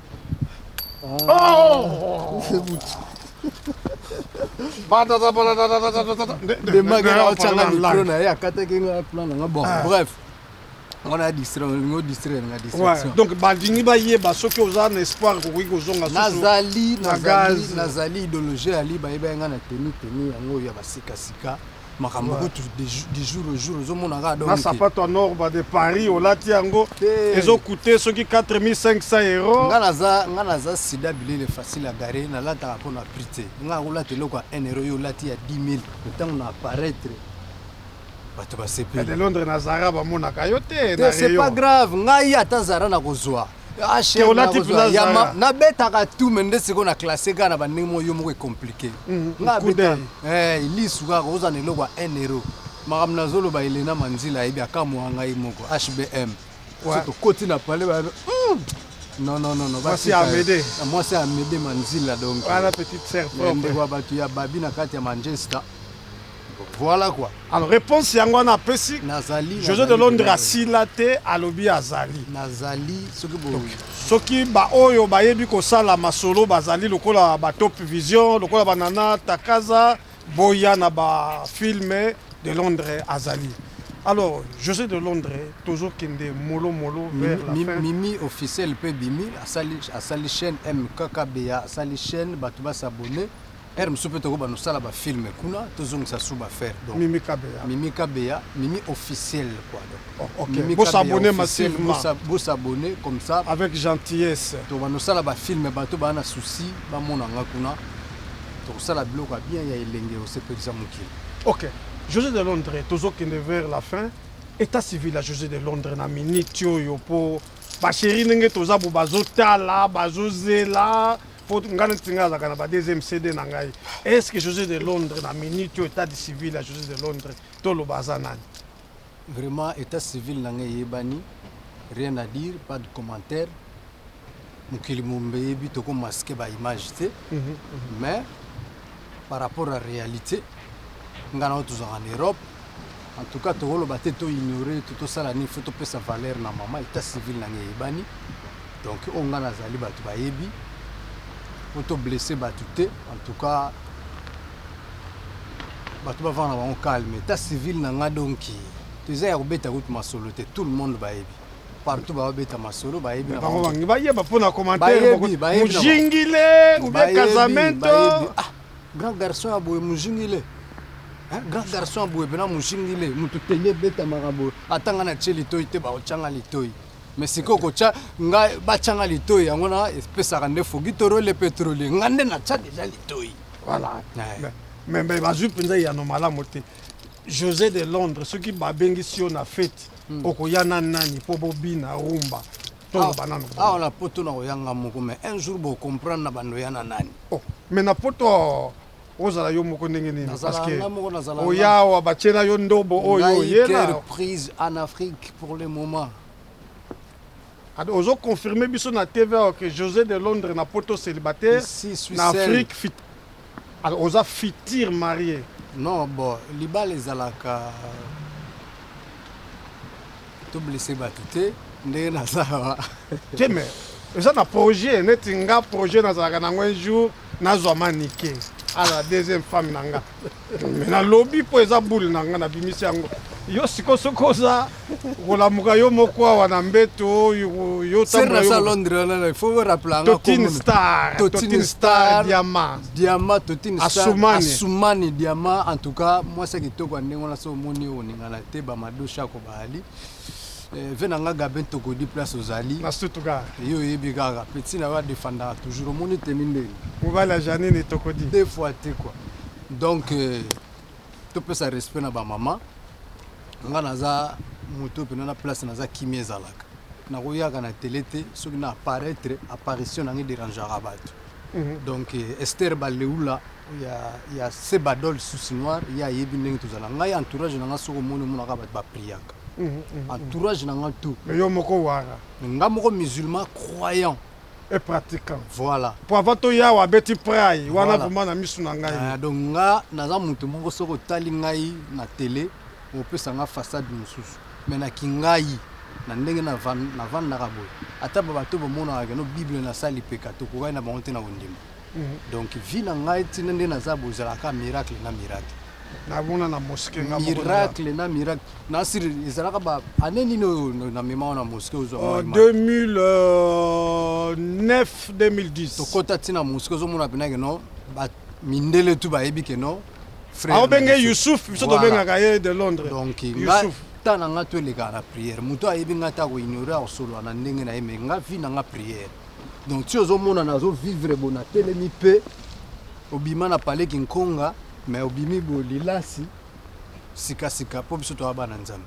donc balingi bayeba soki oza na espoir kokoki kozonganazali nazali idologie ya liba yeba yanga na teni teni yango oyo ya basikasika makambo kutu du jour au jour ozomona kaka donc na sapato ya norba de paris olati yango ezokute soki 4500 euro nga naza nga naza sida bilele facile ya gare nalataka mpo na prix te nga akolata eloko ya 1 euro yo olati ya 10000 ntango na apparaître bato basepeli londres na zara bamonaka yo te te c'est pas grave ngai ata zara nakozwa Ah, chef, Keola nakozwa. type oza Ya ma- zala. nabetaka tu me nde sikoyo na classe kaka na bandenge moko yo moko ecomplike Mhm, nga coup abeta d'œil. Eh, lisu kaka ozwa na eloko ya 1 euro makambo nazoloba elena manzila ayebi akamwa ngai moko hbm Ouais. so tokoti na pale ba non non non non Mwasi ya batika- Amede. Ah, mwasi ya amede manzila donc Wana petite sœur Ya propre. ndeko ya bato ya babi na kati ya manchester Voilà quoi alors reponse yango wana apesi nazali Jose de Londres asila te alobi azali nazali soki bo soki ba oyo bayebi kosala masolo bazali lokola ba top vision lokola banana takaza boya na ba filme de Londres azali alors José de Londres toujours kende molo molo vers la mimi, fin mimi officiel pe bimi asali asali chaîne MKKBA asali chaîne bato ba s'abonner Heure mosusu mpe tokobanda kosala ba film kuna tozongisa suba ferre donc mimi kabeya mimi kabeya mimi officiel quoi donc oh, okay. mimi bosabone massivement bosabone comme ça avec gentillesse tobanda kosala ba film bato baa na souci bamona nga kuna tokosala biloko ya bien ya elenge osepelisa mokili ok josé de londres tozokende vers la fin état civil ya josé de londres na minute oyo mpo basheri ndenge toza bo bazotala bazozela po nga neti nga azalaka na ba deuxième cd na ngai est ce que josé de londres na minute oyo état de civil ya josé de londres toloba aza nani vraiment état civil na ngai eyebani rien à dire pas de commentaire mokili momba eyebi tokomaske ba image te mhm, mhm. mais par rapport ya realite nga na yo tozalaka na Europe en tout cas tokoloba te to ignorer to tosala nini fo topesa valeur na mama etat civil na ngai eyebani donc oyo nga nazali bato bayebi po to blesse bato te en tout cas bato bavanda bango calme etat civil na nga donki toza ya kobeta kutu masolo te tout le monde bayebi partout babeta masolo bayebi bango bayeba mpo na commentaire mujingile ubie casamento ah, grand garçon ya boye mujingile grand garçon ya boye mpena mujingile moto teli ebetamaka boye atanga na tie litoi te baotyanga litoi me sikoyo kotya nga batyanga litoi yango na epesaka nde fogi torole petrole nga nde natya deja litoi voilà me bazwi mpenza eyano malamu te josé de londres soki babengisi yo na fete hmm. okoya na nani mpo bobina rumba toloba nanu awa na poto nakoya nga moko mais un jour bocomprendre na bando ya na nani oh, mais na poto ozala yo moko ndenge nini parceke oya awa batyela yo ndobo oyo oyela prise en afrique pour le moment ozo confirme biso na tv que josé de londres na poto célibataire na afrique Alors oza futur marie? Non bon libala ezalaka to blesse batu te ndenge naza awa te mais eza na projet neti nga projet nazalaka nango un jour nazwa manike ala deuxième femme na nga mais nalobi mpo eza boule na nga nabimisi yango yo siko soki oza kolamuka yo moko awa na mbeto yo tambola yo Londres wana il faut rappeler nga Totine Star Totine Star Diamant Diamant Totine Star Asumani Asumani Diamant en tout cas moi c'est kitoko ndenge wana so moni oningana te ba madosha ko baali eh, ve na nga gaben tokodi place ozali na stuttgart yo oyebi kaka petit na yo adefandaka toujours omoni teni ndenge mobali ya janine tokodi deux fois te quoi donc euh, Topesa respect na ba mama. Nga naza moto pena na place naza kimia ezalaka. Nakoyaka na tele te soki na apparaître apparition na ngai derangaka bato. Mhm. Donc eh, Esther Baleula ya ya Sebadol Souci Noir ye ayebi ndenge tozala. Ngai entourage na ngai soki omoni omonaka bato ba priaka. Mhm, mhm, entourage na ngai tout. Yo moko wara. Nga moko musulman croyant. et pratiquant. Voilà. Pour avoir to yawa abeti pray wana vraiment na misu na ngai. Ah, donc nga naza mutu moko soko tali ngai na télé opesa nga façade mosusu mais na kingai na ndenge na van na van na kabo ata ba bato bomonaka no bible na sali peka to kokani na bango te na kondima. donc vie na ngai tina nde naza bozala ka miracle na miracle namona na mosquée nga moko miracle na miracle na sir ezalaka ba année nini oyo na mema wana mosquée ozwa 2009 2010 tokota tina mosquée ozomona pena ke non ba mindele tu bayebi ke non frère aobenge Youssouf biso tobengaka ye de Londres donc Youssouf ta na nga to eleka na prière moto ayebi nga ta ko ignorer akosolola na ndenge na ye mais nga vie na nga prière Donc ti ozo mona na zo vivre bo na telemi pe obima na palais kinkonga mais obimi bo lilasi sika sika po biso toa bana nzambe.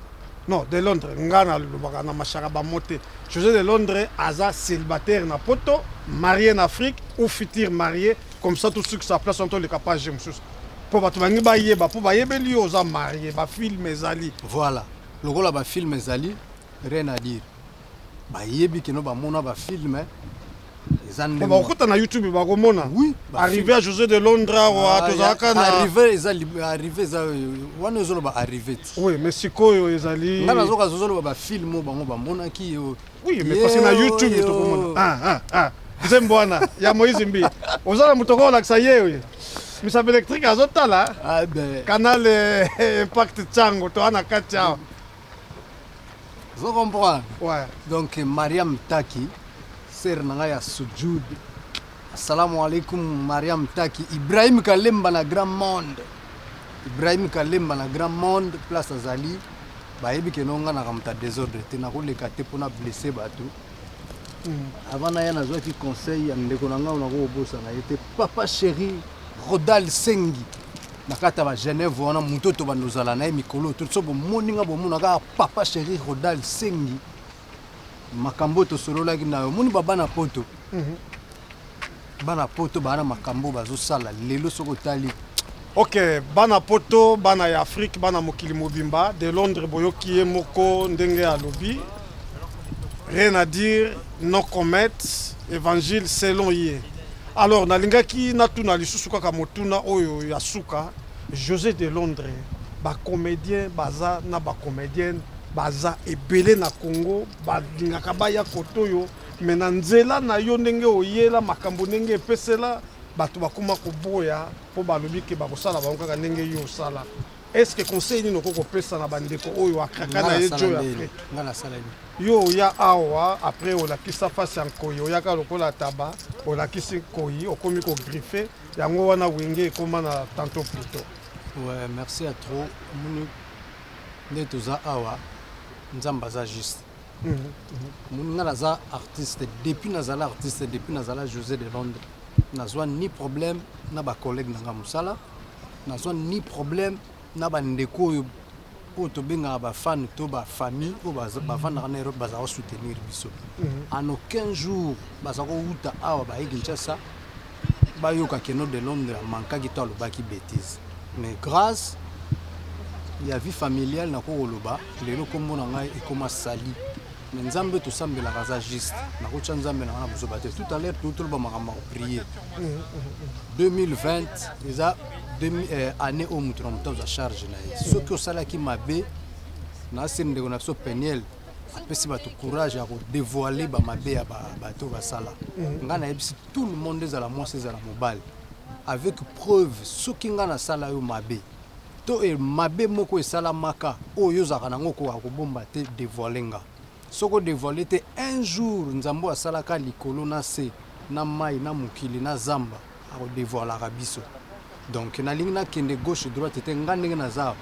Non, de Londres nga na lobaka na mashaka ba mot te. Jose de Londres aza celibataire na poto, marie na Afrique ou futur marie comme ça tout ce qui sa place on to leka page mususu. Po batu bangi ba yeba po ba yebeli yo oza marie, ba film ezali. Voilà. Lokola ba film ezali rien à dire. bayebi keno bamona ba filme eza ndenge bakokota na youtube bakomona oui, arrive ya josé de londra wa ah, tozalaka na arrive eza arrive eza wana ezoloba arrive ti oui mais sikoyo ezali nga nazoka zozoloba bafilme oyo bango bamonaki yo oui mais parce na youtube tokomona ah, ah, ah. nzembo wana ya moïse mbi oza na moto okolakisa ye oyo misapi électrique azotala ah, canal eh, impact cango toa na kati awa Vous comprenez Ouais. Donc Mariam Taki, sœur nanga ya Sujud. Assalamu alaikum Mariam Taki, Ibrahim Kalemba na Grand Monde. Ibrahim Kalemba na Grand Monde place azali bayebi ke nonga na kamuta desordre te nakoleka te mpona blesse bato hmm. avant naya nazwaki conseil ya ndeko na ngai nakokobosa na ye te papa chéri rodal sengi na kati ya ba Genève wana moto to bando zala na ye mikolo to so bomoni nga bomona kaka papa chéri Rodal Sengi makambo tosololaki na yo moni babana poto mhm. bana poto bana makambo bazosala lelo soki otali ok bana poto bana ya afrique bana mokili mobimba de londres boyoki ye moko ndenge alobi Rien à dire, no comment, evangile selon ye. Alors nalingaki natuna lisusu kaka motuna oyo ya suka, Jose de Londres, ba comediens baza na ba comediennes baza ebele na Congo, balingaka baya kote oyo, mais na nzela na yo ndenge oyela makambo ndenge epesela, batu bakoma koboya po balobi ke bakosala bango kaka ndenge yo osala. Est ce que conseil nini okoki kopesa na bandeko oyo akaka na ye joy après ngai nasala nini yo oya awa après olakisa face ya nkoi oyaka lokola taba olakisi nkoi okomi kogriffe yango wana wenge ekoma na tanto pluto ouais, merci ya trop moni nde toza awa nzambe aza juste moni mhm, mhm. ngai naza artiste depuis nazala artiste depuis nazala josé de londres nazwa ni problème na bacollègue na ngai mosala Nazwa ni problème na ba ndeko oyo oyo tobengaka ba fan to ba famille oyo bavandaka na Europe bazala soutenir biso mhm. en aucun jour baza kowuta awa baye Kinshasa bayoka keno de Londres amankaki to alobaki bêtise mais grâce ya vie familiale nako koloba lelo nkombo na ngai ekoma sali Mais Nzambe to sambelaka aza juste. Na ko tia Nzambe na wana buzoba te. Tout à l'heure tout le bama kamba prier. 2020 eza demi euh, année au mutu na mutu aza charge na ye. Soki osala ki mabe na se ndeko na so Peniel apesi bato courage ya kodevoile bamabe ya bato basala mhm. ngai nayebisi tout le monde ezala mwasi ezala mobali avec preuve soki ngai nasala yo mabe To e mabe moko esalamaka oyo yo ozalaka nango okoka kobomba te devoile nga soki o devoile te un jour nzambe oyo asalaka likolo na se na mayi na mokili na zamba ako devoilaka biso donc nalingi na kende gauche droite te nga ndenge naza awa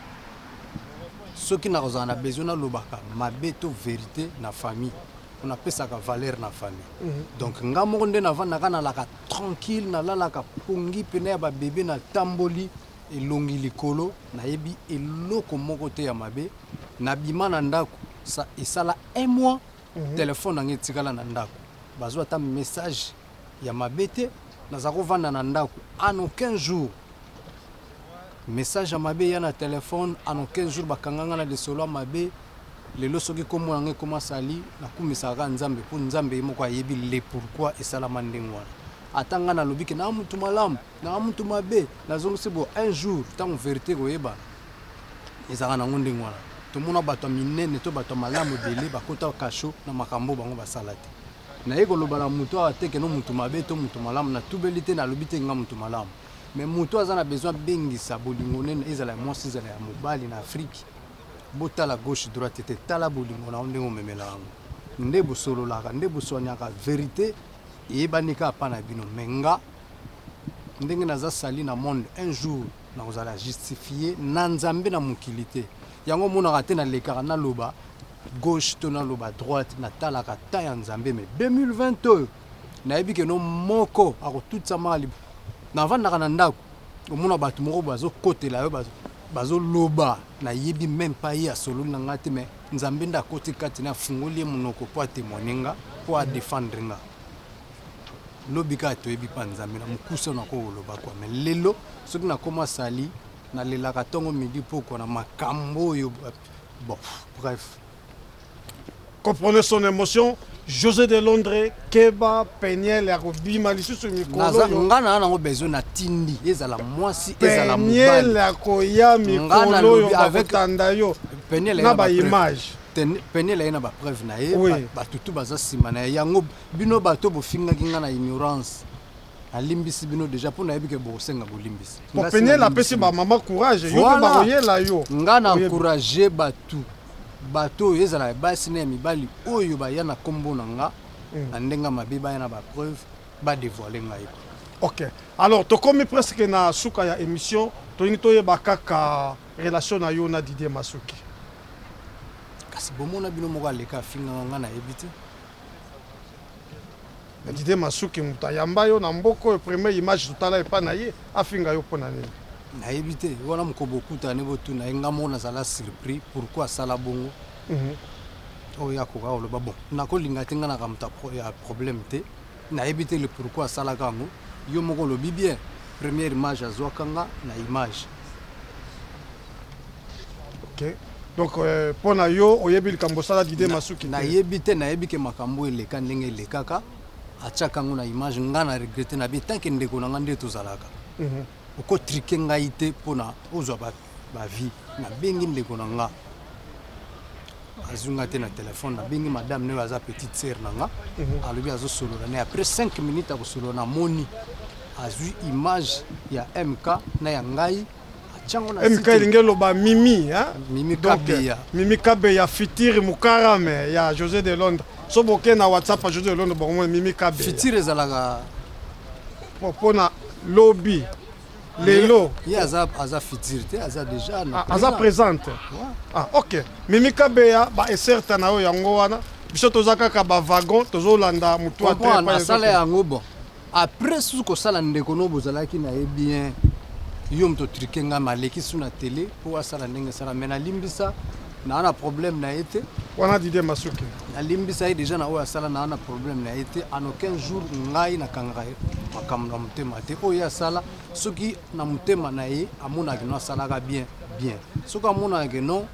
soki nakozala na besoin nalobaka mabe to verite na famille pona pesaka valeur na famille mhm. donc nga moko nde navandaka nalaka tranquille nalalaka pongi pena ya ba bebe na tamboli Elongi likolo nayebi eloko moko te ya mabe na bima na ndaku sa esala un mois telephone na nga etikala na ndaku bazua ata message ya mabe te naza ko vanda na ndaku en aucun jour message ya mabe eya na telephone en aucun jour ba kanga nga na lisolo ya mabe lelo soki kombo na nga ekoma sali na kumisaka kaka nzambe po nzambe ye moko ayebi le pourquoi esalama ndenge wana ata nga na lobi ke naza mutu malamu Naza mutu mabe nazongisi bo un jour tango verite ekoyebana ezalaka nango ndenge wana tomona bato ya minene to bato ya malamu ebele bakota kasho na makambo bango basala te naye koloba na motu awa te keno motu mabe to motu malamu natubeli te nalobi te nga motu malamu me motu aza na besoin abengisa bolingo nene ezala ya mwasi ezala ya mobali na afriki botala gauche droite te tala bolingo na yo ndenge omemela yango nde bosololaka nde boswaniaka verite eyebani kaka mpa na bino me nga ndenge naza sali na monde un jour nakozala justifie na nzambe na mokili te yango omonaka te nalekaka naloba gauche to naloba droite natalaka ta ya nzambe me 2020 oyo nayebi keno moko akotutisama libo navandaka na ndako omona bato moko bazokotela yo bazoloba nayebi meme pa ye asololi na ngai te me nzambe nde akoti kati na afungoli ye monoko mpo atemoigne nga mpo adefendre nga Lobi kaka toyebi pa nzambe na mukuse na ko loba quoi mais lelo soki na koma sali na lelaka tongo midi pokwa na makambo oyo bon bref. Comprenez son emotion Jose de Londre keba penielle ya kobima lisusu mikolo naza oyo nga na nango besoin na tindi ezala mwasi ezala mobali penielle ya koya nga mikolo na oyo lobi avec bakotanda yo penielle na ba image penielle ye na ba preuve na ye Oui. ba- batutu baza nsima na ye yango Bino bato bofingaki nga na ignorance na limbisi bino deja po nayebi ke bokosenga bolimbisi. Po Penielle apesi ba maman courage yo pe bako yela yo. Nga na encourage batu bato oyo ezala ya basi na ya mibali oyo baya na kombo na nga na ndenge ya mabe baya na ba preuve ba devoile ngai ko. Ok alors tokomi presque na suka ya emission tolingi toyeba kaka relation na yo na Didier Masuki. Kasi bomona bino moko aleka afingaka nga nayebi te. Didier masuki mutu ayamba yo na mboka oyo premier image totala epa na ye afinga yo pona nini? Nayebi te wana moko bokutani botuna ye nga moko nazala surpris pourquoi asala bongo mm -hmm. oyo akoka koloba bon nakolinga te nga naka moto ya problème te Nayebi te le pourquoi asalaka yango. Yo moko olobi bien première image azwaka nga na image. Ok. Donc euh, mpo na yo oyebi likambo osala Didier Masuki te? Nayebi te, nayebi ke makambo eleka ndenge elekaka, atiaka yango na image, nga na regrette na bien tant que ndeko na nga nde tozalaka. Oko triquer ngai te pona ozwa ba ba vie. Na bengi ndeko na nga azwi nga te na telephone, na bengi madame naye aza petite sœur na nga alobi azo solola naye après 5 minutes ya kosolola na moni azwi image ya MK na ya ngai atyango na MK site elingi eloba Mimi hein? Mimi Donc, Kabeya. Mimi Kabeya Fitiri Mukarame ya Jose de Londres. So boke na WhatsApp ya Jose de Londres bokomona Mimi Kabeya. Fitiri ezalaka pona lobi lelo ye aza aza futur te aza déjà na ah, aza présente ah ok mimi kabeya ba eserta na yo yango wana biso toza kaka ba wagon tozolanda motu asala yango bon après susu kosala ndeko no bozalaki na ye bien yo moto trike ngai maleki su na tele mpo asala ndenge asala mai nalimbisa Naa na problème na ye te. Wana Didier Masuke. Na limbisa ye dejà na oyo asala naa na problème na ye te. En aucun jour ngai na kangaka ye makambo na motema te. Oyo ye asala soki na motema na ye amonaka que non asalaka bien, bien. Soki amonaka que non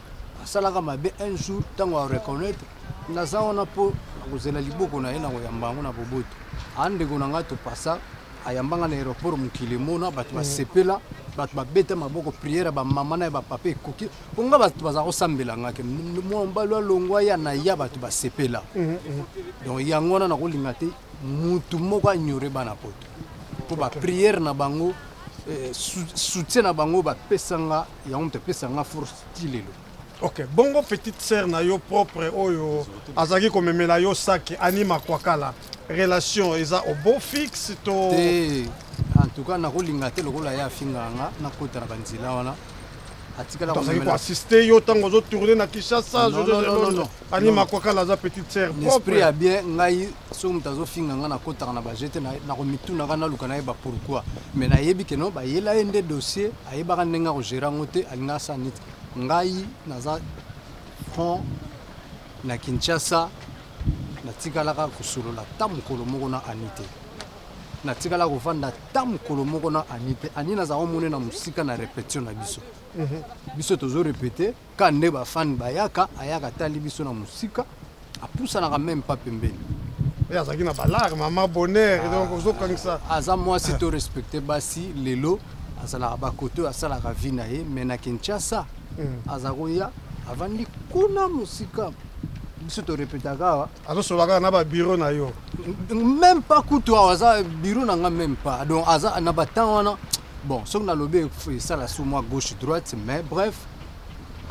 asalaka mabe un jour tango a reconnaitre naza wana po na kozela liboko na ye na koyamba yango na boboto. Aa ndeko na ngai Topasa ayamba ngai na aeroport mokili emona bato basepela bato babeta maboko prière ya ba mama na ya ba papa ekoki. mpo nga bato bazala kosambela nga ke mobali alongwa ya na ya bato basepela mhm, mhm. donc yango wana nakolinga te motu moko anyore bana poto mpo bapriere na bango eh, soutien na bango bapesa nga yango moto epesa nga force ti lelo ok bongo petite sœur na yo propre oyo azalaki komemela yo saki anima kwakala relation eza obo fixe to te en tout cas nakolinga te lokola ye afingaka nga nakota na banzela wana atikala tozali ko assister yo ntango ozo tourne na kinshasa ani makwakala aza petite sœur esprit ya bien ngai soki moto azofinga ngai nakotaka na baje te nakomitunaka naluka nayeba pourquoi mais nayebi ke no bayela ye nde dossier ayebaka ndenge akogere yango te alinga asala neti ngai naza front na kinshasa natikalaka kosolola ta mokolo moko na ani te natikala kovanda ta mokolo moko na ani te ani nazala omone na mosika na repetition na biso mhm. biso tozo repete ka nde bafani bayaka ayaka tali biso na mosika apusanaka meme pa pembeni eh, azalaki na balare mama bonheur ah. donc ozokangisa aza mwasi to respecte basi lelo azalaka bakote oyo asalaka vi na ye mai na kinshasa mhm. aza koya avandi kuna mosika biso torepetaka awa azo solola kaka na ba bureau na yo meme pas kutu awa aza bureau na nga meme pas donc aza na ba temps wana bon soki nalobi esala sur moi gauche droite mais bref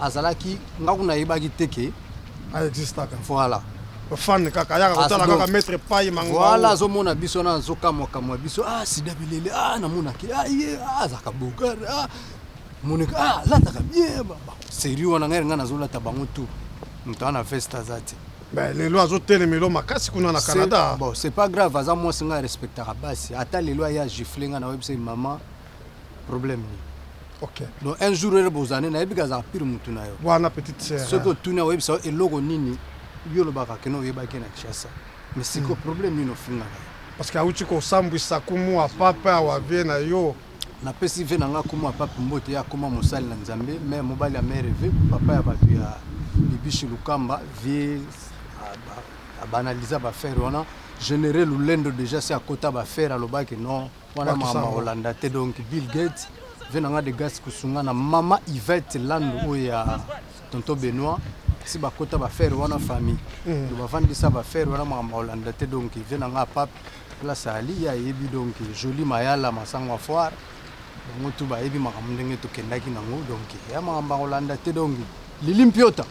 azalaki nga kuna ayebaki te ke aexistaka voilà fan kaka ayaka kotala kaka maître pai mango voilà azomona biso wana azokamwakamwa biso ah sida bilele ah namonaki ah ye ah azalaka bogare ah Monica ah lataka bien baba. Serieux wana ngai nga nazo lata bango tout. Moto ana veste aza te. Ben lelo azo telemelo makasi kuna na Canada. Bon, c'est pas grave aza moi singa respectaka basi. Ata lelo aya gifle nga na website maman problème ni. Okay. Donc un jour ele bozane na yebi kaza pire mutu na yo. Wana petite sœur. Ce que tu na website oh, eloko nini yo lobaka keno yebaki na Kinshasa. Mais siko mm. problème nini ofingaka? Parce que auti kosambwisa kumu apapa awavie na yo. Na pesi vie na nga kombo ya papi mbote a koma mosali na nzambe mère mobali ya mère eve papa ya batu ya bibiche lukamba vie abanaliza ba faire wana general lulendo deja si akota ba faire alobaki non wana mama olanda te donc bill gate vie na nga de gas kusunga na mama ivette landu oyo ya tonto benoit si bakota ba faire wana famille mm. bavandisa ba faire wana mama olanda te donc vie na nga papi Place Ali ye ayebi donc Jolie Mayala Masangwa Foire bango tout bayebi makambo ndenge tokendaki nango donc ya makambo ya kolanda te donc Lili Mpiota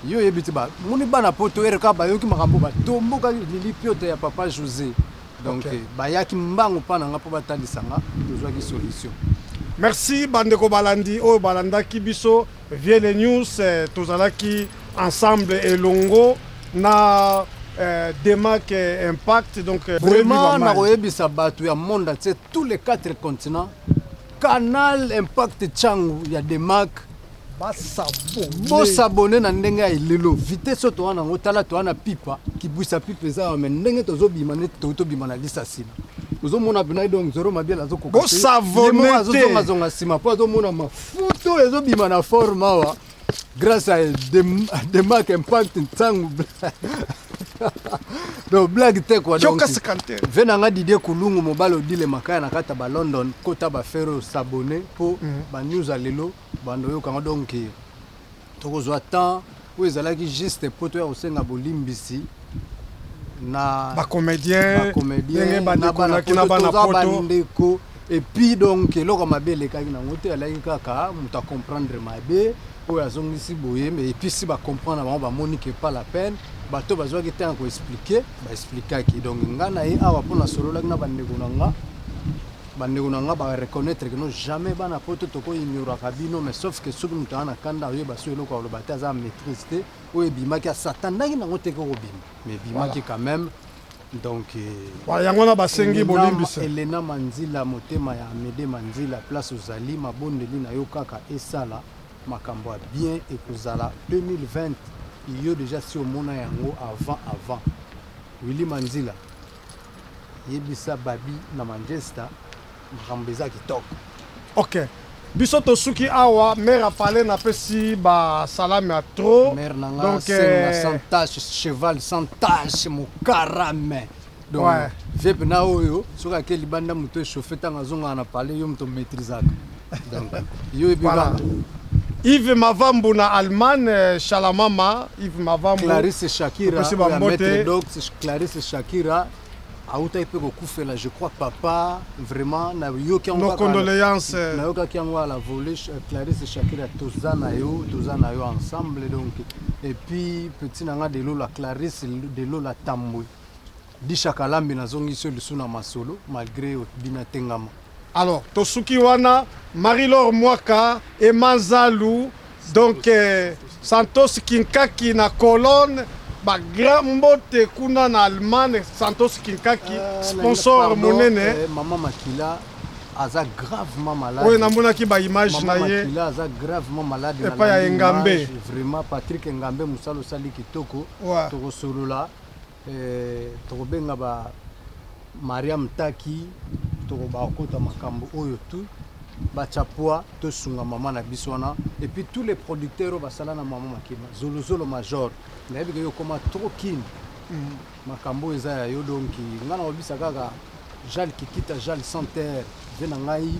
yo oyebi te ba moni bana poto RK bayoki makambo batombokaki Lili Mpiota ya papa Jose donc okay. bayaki mbango mpa na nga mpo batalisa nga tozwaki solution. Merci bandeko balandi oyo balandaki biso. Vieux le news tozalaki ensemble elongo na Demac impact donc vraiment nakoyebisa batu ya monde entier tous les 4 continents canal impact tshangu ya Demac bo s'abonner na ndenge ya elelo vitesse oyo towana yango tala towa na pipa kibwisa pipa eza awa mais ndenge tozobima neti toki tobima na lisa nsima ozomona pena donc zoro mabiala azokokazongazonga nsima mpo azomona mafu Foto oyo ezobima na forme awa grâce à de marque impact ntango donc blague te quoi donc ve na nga didie kulungu mobali odile makaya na kata ba london kota ba fero s'abonner mpo mm. ba news ya lelo bando oyokanga donc Tokozwa temps oyo ezalaki juste po toya kosenga bolimbisi na ba comediens, ndenge bandeko na kina bana poto bandeko epuis donc eloko mabe elekaki nango te alaki kaka moto acomprendre mabe oyo azongisi boye me episi bacomprendre bango bamoni ke pas la peine bato bazwaki ntango ya koexplike baexplikaki donc ngai na ye awa mpo nasololaki na bandeko na nga Ba ndeko na nga ba reconnaitre que non jamais bana poto toko ignoraka bino mais sauf que soki mutu aza na kanda oyeba soki eloko akoloba te aza na maitrise te oyo ebimaki asatandaki nango te koko bima mais ebimaki quand même donc Voilà, yango wana basengi Elena- bolimbisa. Elena Manzila motema ya Amede Manzila place ozali mabondeli na yo kaka esala makambo ya bien ekozala 2020 yo deja si omona yango avant avant Willy Manzila Yebisa babi na Manchester makambo eza kitoko. Ok. Biso tosuki awa mère ya Fally napesi ba salami ya trop. Mère na nga Donc, senga eh, sans tache, cheval sans tache, mokarame. Donc, Ouais. vepe na oyo soki ake libanda moto echauffe ntango azongaka na palais yo moto maîtrisaka. Yves Mavambu na Allemagne, euh, Shalamama, Yves Mavambu. Clarisse Shakira, la maître Doc, Clarisse Shakira, autaki mpe kokufela je crois papa vraiment nayoki yango condoléance nayokaki yango à la volée euh, clarisse shakira toza na yo toza na yo ensemble donc et puis petit na nga de lola clarisse de lola tambwe Disha Kalambi na zongisi yo lisusu na masolo malgre otbi na tengama. Alors tosuki wana Marie Laure Mwaka, Emma Nzalu, donc Santos Kinkaki na Cologne ba grand mbote kuna na Allemagne Santos Kinkaki sponsor monene. Maman Makila aza gravement malade. Oyo namonaki ba image na ye. Makila aza gravement malade na. Epa ya Engambe. Vraiment Patrick Engambe musalo sali kitoko. Tokosolola. Toko benga ba Maria Mtaki toko ba kota makambo oyo tout ba tcha pua to sunga maman na biso wana et puis tous les producteurs ba sala na maman makeba zolo zolo major na yebi ke yo koma trop kin makambo eza ya yo donc nga na obisa kaka jal kikita jal sans terre vie na ngai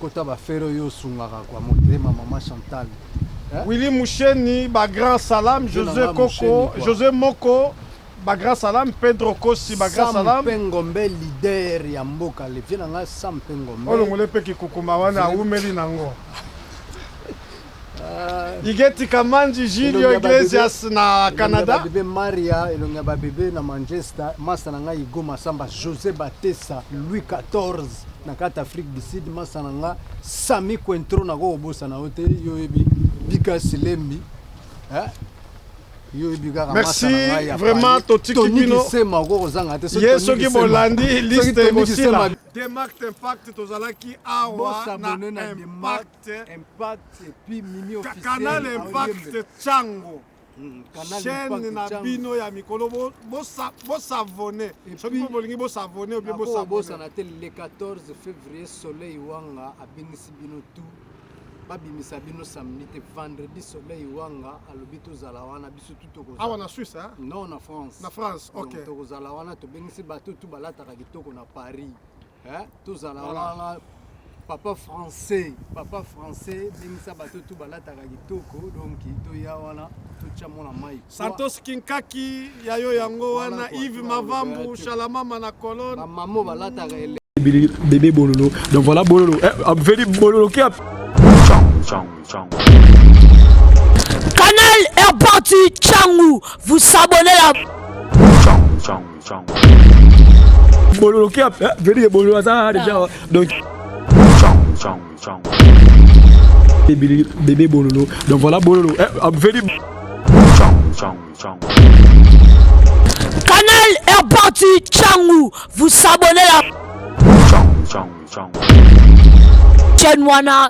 Kota ba ferre yo osungaka kwa motema maman Chantal. Eh? Willy Musheni ba grand salam Jose Koko Jose Moko ba grand salam Pedro Kosi ba grand salam. Sam Pengombe leader ya mboka le vieux nanga Sam Pengombe. Olongole pe kikukuma wana awumeli nango. Ligeti Kamanji Julio Iglesias na Canada. Elongi ya bebe Maria, elongi ya bebe na Manchester, masta na nga Hugo Masamba, Jose Batesa, Louis 14 na kati Afrique du Sud, masta na nga Sami Quentro na ko bosa na ote yo yebi Bika Silembi. Hein? merci vraiment totiki bino ye soki bolandi liste ekosila demark impact tozalaki awa na impact Impact puis Mimi officiel. Canal Impact Chango. Hmm, chaîne na bino ya mikolo bosavone soki mpo bolingi bosavone obie bosabosana te le 14 février soleil wanga abengisi bino tout babimisa bino samedi te vendredi soleil wanga alobi tozala wana biso tu tokoawa na suisse non na france na france ok tokozala wana tobengisi bato tu balataka kitoko na paris eh, tozala wana papa français papa français bengisa bato tu balataka kitoko donc toya wana totya mwana mai santos kinkaki ya yo yango wana ive mavambu shalamama na colone bamamo balataka ele bebe bololo donc voilà bololo eh, abveli bololo kia canal airport changu vous s'abonnez la bololo kia eh, vedike bololo aza deja ah. donc bébé bololo donc voilà bololo eh, ah, vedi canal est parti changu vous s'abonnez la chaîne wana